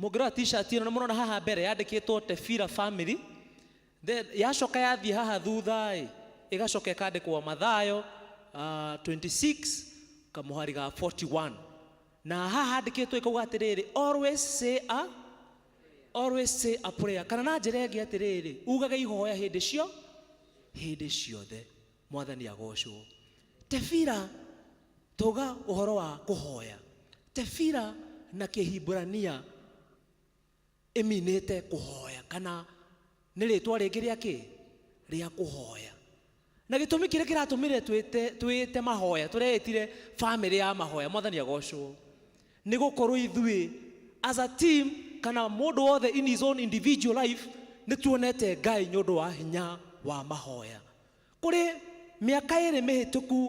Mũngĩrora t-shirt ĩno nĩ mũrona haha mbere yandĩkĩtwo Tefira family. Then yacoka yathiĩ haha thutha ĩ, ĩgacoka ĩkandĩkwo Mathayo uh, 26 kamũhari ga 41. Na haha handĩkĩtwo ĩkauga atĩrĩrĩ, always say a always say a prayer. Kana na njĩra ĩngĩ atĩrĩrĩ, ugage ihoya hĩndĩ cio hĩndĩ ciothe. mwathani agocwo tebira toga ũhoro wa kũhoya tebira na kĩhimburania ĩminĩte kũhoya kana nĩ rĩtwa rĩngĩ rĩa kĩ rĩa kũhoya na gĩtũmi kĩrĩa kĩratũmire twĩte- twĩĩte mahoya tũreĩtire bamĩrĩ ya mahoya mwathani agocwo nĩ gũkorwo ithuĩ as a team kana mũndũ wothe in his own individual life nĩ tuonete ngai nĩ ũndũ wa hinya wa mahoya Kũrĩ mĩaka ĩrĩ mĩhĩtũku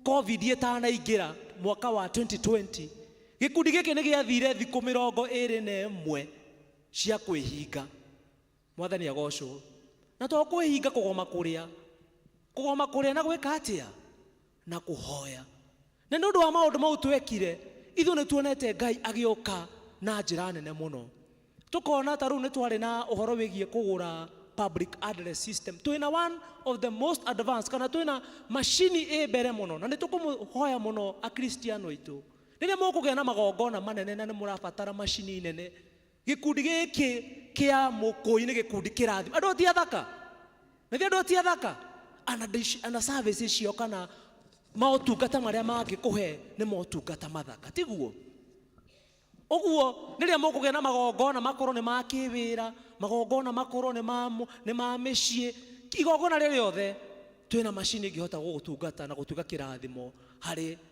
Covid ĩtanaingĩra mwaka wa 2020, gĩkundi gĩkĩ nĩ gĩathire thikũ mĩrongo ĩrĩ na ĩmwe cia kwĩhinga. Mwathani agocwo. Na to kwĩhinga kũgoma kũrĩa. Kũgoma kũrĩa na gwĩka atĩa? na kũhoya. Na nĩ ũndũ wa maũndũ mau twekire, ithuĩ nĩ tuonete Ngai agĩũka na njĩra nene mũno. Tũkona ta rĩu nĩ twarĩ na ũhoro wĩgiĩ kũgũra public address system. Twĩ na one of the most advanced, kana twĩ na macini ĩ mbere mũno, na nĩ tũkũmũhoya mũno Akristiano aitũ, rĩrĩa mũkũgĩa na magongona manene na nĩ mũrabatara macini nene, Gĩkundi gĩkĩ kĩa Mũkũi nĩ gĩkundi kĩrathima. Andũ ti athaka? Na andũ ti athaka? Ana, ana services ciao kana motungata marĩa mangĩkũhe nĩ motungata mathaka, tiguo? Ũguo rĩrĩa mũkũgĩa na magongona makorwo nĩ ma kĩwĩra, magongona makorwo nĩ ma, nĩ ma mĩciĩ, igongona rĩrĩ rĩothe, twĩna macini ĩngĩhota gũgũtungata na gũtuĩka kĩrathimo harĩ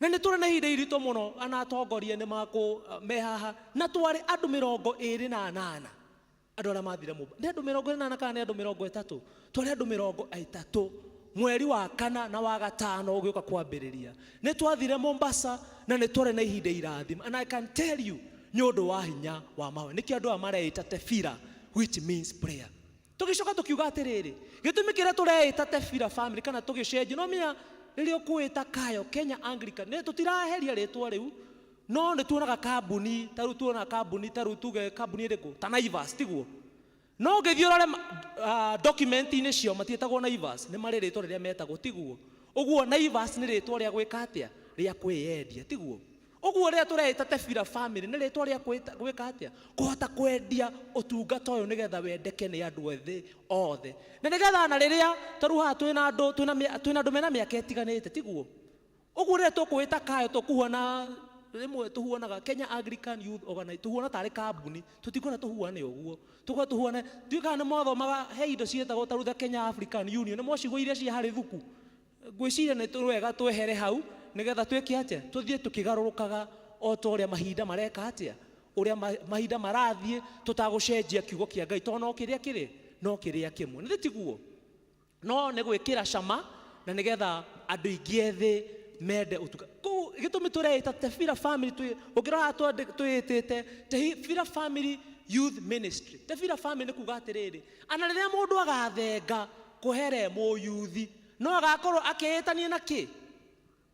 Na nĩ tũrĩ na ihinda iritũ mũno, na atongoria nĩ makũ, me haha, na twarĩ andũ mĩrongo ĩĩrĩ na anana, andũ arĩa maathire Mumbai. Nĩ andũ mĩrongo ĩĩrĩ na anana kana nĩ andũ mĩrongo ĩtatũ? Twarĩ andũ mĩrongo ĩtatũ, mweri wa kana na wa gatano ũgĩũka kwambĩrĩria. Nĩ twathire Mombasa, na nĩ twarĩ na ihinda irathime. And I can tell you, nĩ ũndũ wa hinya wa mahoya. Nĩkĩo andũ aya mareĩta Tefillah, which means prayer. tũgĩcoka tũkiuga atĩrĩrĩ gĩtũmi kĩrĩa tũreĩta tebira family kana tũgĩcenjia no menya rĩrĩa ũkwĩta kayo kenya anglican nĩ tũtiraheria rĩtwa rĩu no nĩ tuonaga kambuni ta rĩu tuonaga kambuni ta rĩu tuge kambuni ĩrĩkũ ta naivas tiguo no ũngĩthiĩ ũrore uh, document-inĩ ciao matiĩtagwo naivas nĩ marĩ rĩtwa rĩrĩa metagwo tiguo ũguo naivas nĩ rĩtwa rĩa gwĩka atĩa rĩa kwĩyendia tiguo Ũguo rĩrĩa tũreĩta Tebira Family, nĩ rĩtwa rĩa kwĩta, gwĩka atĩa? Kũhota kwendia ũtungata ũyũ nĩgetha wendeke nĩ andũ ethĩ othe. Na nĩgetha ona rĩrĩa tarĩu haha twĩ na andũ, twĩ na mĩ, twĩ na andũ mena mĩaka ĩtiganĩte, tiguo? Ũguo rĩrĩa tũkũĩta kayo tũkuona, rĩmwe tũhuanaga Kenya Anglican Youth Organi, tũhuana tarĩ kambuni, tũtikwenda tũhuane ũguo. Tũkwenda tũhuane, ndiũĩ kana nĩ mwathomaga, he indo ciĩtagwo tarĩu the Kenya African Union, nĩ mwacigua iria cia harĩ thuku? Ngwĩciria nĩ wega twehere hau nĩgetha twĩke atĩa? Tũthiĩ tũkĩgarũrũkaga o ta ũrĩa mahinda mareka atĩa? Ũrĩa mahinda marathiĩ tũtagũcenjia kiugo kĩa Ngai tondũ no kĩrĩa kĩrĩ no kĩrĩa kĩmwe. Nĩ tiguo? No nĩ gwĩkĩra cama na nĩgetha andũ aingĩ ethĩ mende ũtuka. Kũu gĩtũmi tũreĩta Tebira Family twĩ ũngĩrora twĩĩtĩte Tebira Family Youth Ministry. Tebira Family nĩ kuga atĩrĩrĩ, ana rĩrĩa mũndũ agathenga kũhere mũyuthi No agakorwo akĩĩtanio na kĩ?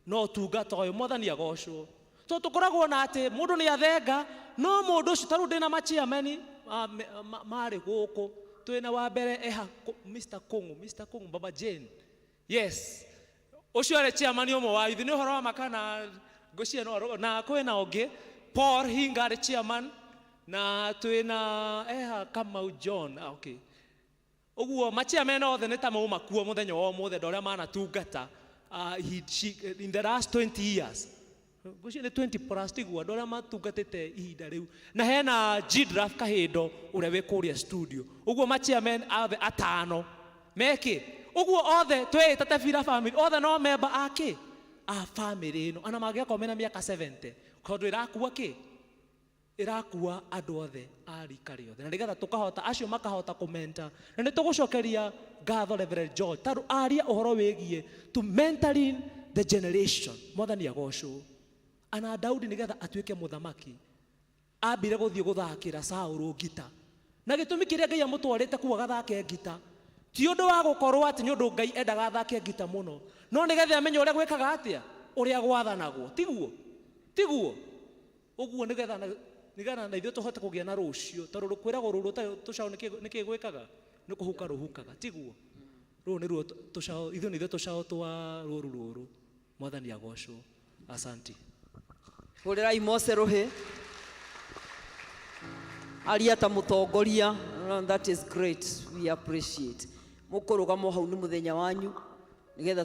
Na ũtungata ũyũ. Mwathani agocwo. To tũkoragwo na atĩ mũndũ nĩ athenga, no mũndũ ũcio, ta rĩu ndĩna machiameni marĩ gũkũ, twĩna wa mbere eha Mr. Kũng'ũ, Mr. Kũng'ũ, Baba Jane. Yes. Ũcio arĩ chairman ũmwe wa yuthi, nĩ ũhoro wa makana ngũcia no na kwĩna ũngĩ, Paul Hinga arĩ chairman, na twĩna eha Kamau John, ah, okay. Ũguo, Machia mena othe nĩ ta maumakuo mũthenya wa ũmũthĩ, andũ arĩa manatungata uh, he, she, in the last 20 years gucio nĩ 20 plus tiguo andũ arĩa matungatĩte ihinda rĩu na hena jidraf kahindo ũrĩa wĩ kũrĩa studio ũguo machairman othe atano mekĩ ũguo othe twĩĩta tebira family othe no memba akĩ a family ĩno ana mangĩgakorwo mena mĩaka 70 tondũ ĩrakua kĩ ĩrakua andũ othe a rika rĩothe na nĩgetha tũkahota acio makahota kũmenta na nĩ tũgũcokeria ngatho Reverend George tondũ aria ũhoro wĩgiĩ to mentoring the generation mwathani agocwo ana Daudi nĩgetha atuĩke mũthamaki ambire gũthiĩ gũthakĩra Saũlũ ngita na gĩtũmi kĩrĩa Ngai amũtwarĩte kuo agathake ngita ti ũndũ wa gũkorwo atĩ nĩ ũndũ Ngai endaga athake ngita mũno no nĩgetha amenye ũrĩa gwĩkaga atĩa ũrĩa gwathanagwo tiguo tiguo Ũguo nĩ getha na- nĩ getha na ithuĩ tũhote kũgĩa na rũciũ tondũ rũkwĩragwo rũrũ ũtarĩ tũcaũ nĩkĩ- nĩkĩ gwĩkaga nĩ kũhuka rũhukaga tiguo rũrũ nĩruo tũ- tũcaũ ithuĩ nĩ ithuĩ tũcaũ twa rũru rũrũ mwathani agocwo asanti hũrĩrai mose rũhĩ aria ta mũtongoria No, that is great we appreciate mũkũrũgama o hau nĩ mũthenya wanyu nĩgetha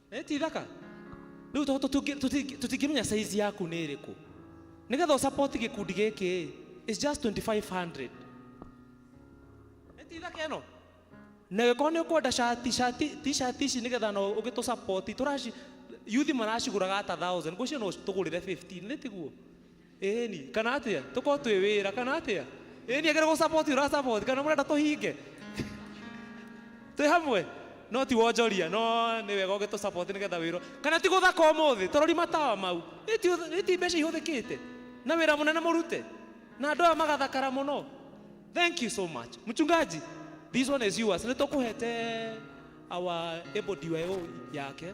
Nĩ ti thaka? Rĩu to tũtingĩ- tũtingĩ- tũtingĩmenya saizi yaku nĩ ĩrĩkũ nĩgetha ũsapoti gĩkundi gĩkĩ is just 2500 nĩ ti thaka ĩno na gĩkorwo nĩ ũkwenda shati shati ti shati ici nĩgetha no ũgĩtũsapoti tũraci yuthi maracigũraga ata 1000 ngũcio no tũgũrĩre 15 nĩ tiguo Ĩni, kana atĩa? Tũkorwo twĩ wĩra, kana atĩa? Ĩni, agĩrĩirwo gũcaboti ũracaboti, kana mũrenda tũhinge? Twĩ hamwe? No ti wonjoria, no nĩ wega ũgĩtũcaboti nĩgetha wĩra. Kana ti gũthaka ũmũthĩ, tũrori matawa mau. Ĩ ti ũth- ĩ ti mbeca ihũthĩkĩte? Na wĩra mũnene mũrute? Na andũ aya magathakara mũno? Thank you so much. Mchungaji, this one is yours. Nĩ tũkũhete our able DYO yake.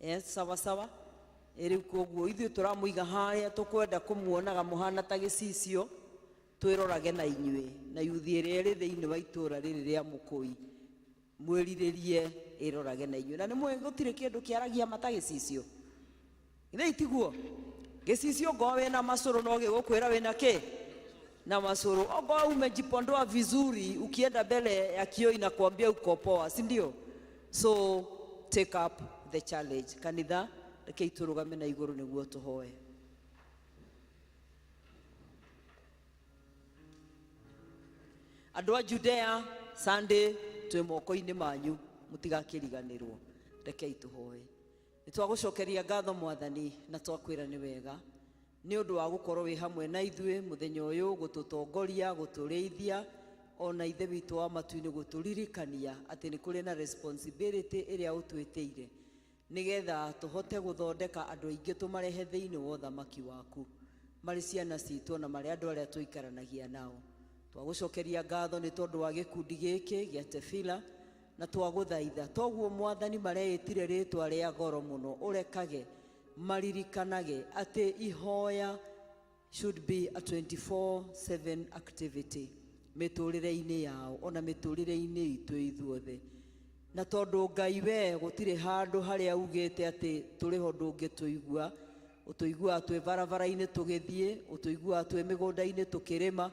Yes, sawa sawa. Ĩ rĩu koguo ithuĩ tũramũiga harĩa tũkwenda kũmuonaga mũhana ta gĩcicio twĩrorage na inyuĩ na yuthi ĩrĩa ĩrĩ thĩinĩ wa itũũra rĩrĩ rĩa mũkũi mwĩrirĩrie ĩrorage na inyuĩ na nĩ mũĩ gũtirĩ kĩndũ kĩaragia mata gĩcicio githĩ itiguo gĩcicio ngoo wĩna macũrũ no gĩgũkwĩra wĩna kĩ na macũrũ okorwo umejipondoa vizuri ukienda mbele ya kioo inakwambia uko poa si ndio So take up the challenge. Kanitha, rekei tũrũgame na igũrũ nĩguo tũhoe. Andũ a Judea, Sunday, twĩ moko-inĩ manyu, mũtigakĩriganĩrwo. Rekei tũhoe. Nĩ twagũcokeria ngatho mwathani na twakwĩra nĩ wega. Nĩ ũndũ wa gũkorwo wĩ hamwe na ithuĩ mũthenya ũyũ, gũtũtongoria, gũtũrĩithia, o na Ithe witũ wa matu-inĩ gũtũririkania atĩ nĩ kũrĩ na responsibility ĩrĩa ũtwĩtĩire nĩ getha tũhote gũthondeka andũ aingĩ tũmarehe thĩinĩ wa ũthamaki waku marĩ ciana citũ o na marĩ andũ arĩa tũikaranagia nao. Twagũcokeria ngatho nĩ tondũ wa gĩkundi gĩkĩ gĩa Tefila na twagũthaitha toguo Mwathani mareĩtire rĩtwa rĩa goro mũno ũrekage maririkanage atĩ ihoya should be a 24/7 activity mĩtũrĩre-inĩ yao ona mĩtũrĩre-inĩ itũ ithuothe na tondũ ngai we gũtirĩ handũ harĩa ugĩte atĩ tũrĩho ndũngĩtũigua ũtũiguaga twĩ barabara-inĩ tũgĩthiĩ ũtũiguaga twĩ mĩgũnda-inĩ tũkĩrĩma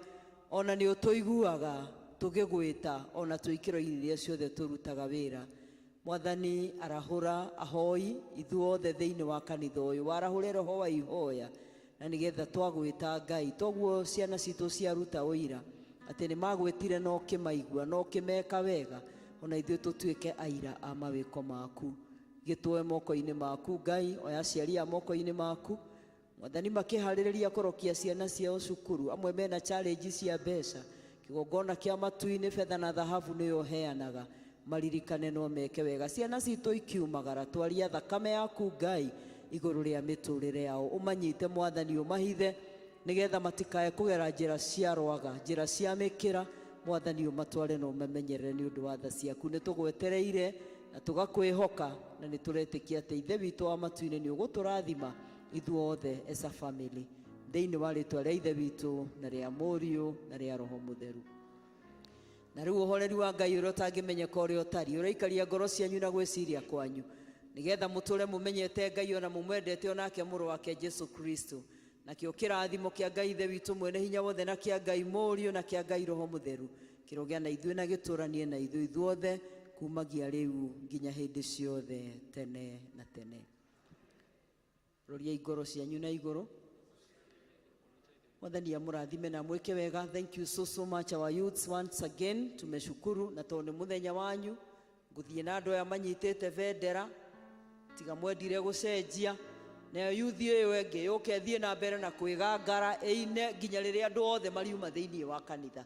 ona nĩ ũtũiguaga tũgĩgwĩta ona twĩ ikĩro-inĩ iria ciothe tũrutaga wĩra Mwathani arahũra ahoi ithuothe thĩinĩ wa kanitha ũyũ warahũre roho wa ihoya na nĩgetha twagwĩta Ngai toguo ciana citũ ciaruta ũira atĩ nĩ magwĩtire no kĩmaigua no kĩmeka wega ona ithuĩ tũtuĩke aira a mawĩko maku gĩtwoe moko-inĩ maku Ngai oya aciari a moko-inĩ maku Mwathani makĩharĩrĩria kũrokia ciana ciao cukuru, amwe mena challenge cia mbeca, kĩgongona kĩa matu-inĩ, betha na thahabu nĩwe ũheanaga, maririkane no meke wega. Ciana citũ ikiumagara, twaria thakame yaku Ngai igũrũ rĩa mĩtũrĩre yao, ũmanyite Mwathani ũmahithe, nĩgetha matikae kũgera njĩra cia rwaga, njĩra cia mĩkĩra, Mwathani ũmatware na ũmamenyerere nĩ ũndũ wa tha ciaku. Nĩ tũgwetereire na tũgakwĩhoka, na nĩ tũretĩkia atĩ Ithe witũ wa matu-inĩ nĩ ũgũtũrathima. ithuothe as a family thĩinĩ wa rĩtwa rĩa ithe witũ na rĩa mũriũ na rĩa roho mũtheru na rĩu ũhoreri wa ngai ũrĩa ũtangĩmenyeka ũrĩa ũtariĩ ũraikaria ngoro cianyu na gwĩciria kwanyu nĩgetha mũtũre mũmenyete ngai ona mũmwendete onake mũrũ wake jesu kristo nakĩo kĩrathimo kĩa ngai ithe witũ mwene hinya wothe na kĩa ngai mũriũ na kĩa ngai roho mũtheru kĩrogĩa na ithuĩ na gĩtũranie na ithuĩ ithuothe kumagia rĩu nginya hĩndĩ ciothe tene na tene Roriai ngoro cianyu na igũrũ. Mwathani amũrathime na mwĩke wega. Thank you so so much our youths once again. Tumeshukuru na tondũ nĩ mũthenya wanyu. Ngũthiĩ na andũ aya manyitĩte bendera tiga mwendire gũcenjia nayo yuthi ĩyo ĩngĩ yũke thiĩ na mbere na kwĩgangara ĩine nginya rĩrĩa andũ othe mariuma thĩinĩ wa kanitha